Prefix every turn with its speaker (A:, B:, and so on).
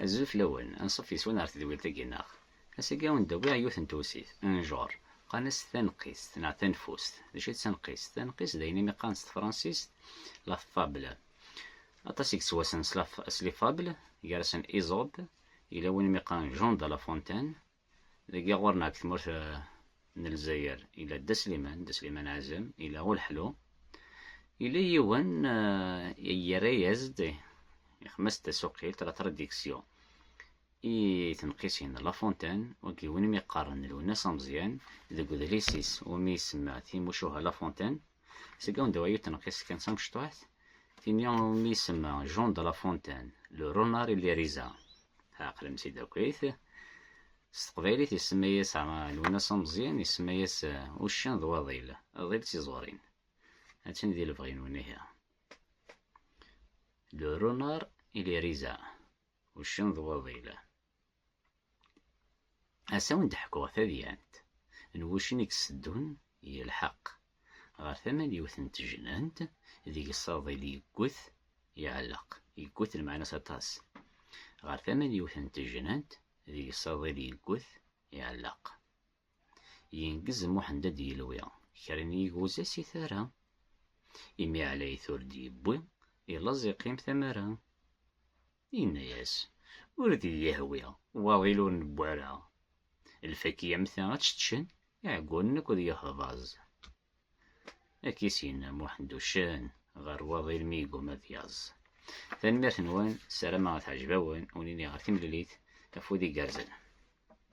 A: Azul fell-awen, anṣuf yes-wen ɣer tedwilt-agi neɣ? Ass-agi a wen-d-awiɣ yiwet n tewsit, un genre, qqaren-as taneqqist neɣ tanfust. D acu i d taneqqist? Taneqqist d ayen i mi qqaren s tefransist la fable. Aṭas i yettwassnen s la fable, gar-asen Izob, yella win i mi qqaren Jean de la Fontaine, Dagi ɣur-neɣ deg tmurt n Lezzayer, ila Dda Sliman, Dda Sliman Azem, ila Ulḥlu, ila yiwen yerra-yas-d ixmas tasuqilt, la tradiksyo, i tenqisin La Fontaine, wagi win mi qqaren Lwennas Ameẓyan, deg udlis-is umi isemma Timucuha La Fontaine, Seg anda ay uṭneɣ iskan samecṭuḥt, tini umi isemma Jean de la Fontaine, le renard et l'hérisa. Ɛeqlem si dakit. S teqbaylit isemma-yas Lwennas Ameẓyan, isemma-yas eh, uccen d waḍil, aḍil d tiẓurin. Attan di lebɣi-nwen ihi. Le renard et l'hérisa, uccen d waḍil. Ass-a wen d-ḥkuɣ tadyant n wuccen i yesseddun ilḥeq ɣer tama n yiwet n tejnant deg ṣṣaḍil yegget iɛelleq, yegget lmeɛna-s aṭas, ɣer tama n yiwet n tejnant deg ṣṣaḍil yegget iɛelleq. Yengez Muḥend ad d-yelwi kra n yigwza si tara, imi ɛlayet ur d-yewwi, ileẓ iqqim tamara. Yenna-yas, Ur d-iyi-yehwi, waḍil ur newwi ara. Lfaki am ta ad tt-ččen iɛeggunen akked yehḍaẓ. Ad k-issin Muḥend uccen ɣer waḍil mi yegguma ad yaẓ. Tanemmirt-nwen, ssarameɣ ad teɛjeb-awen, ur nini ɣer timlilit, afud igerrzen.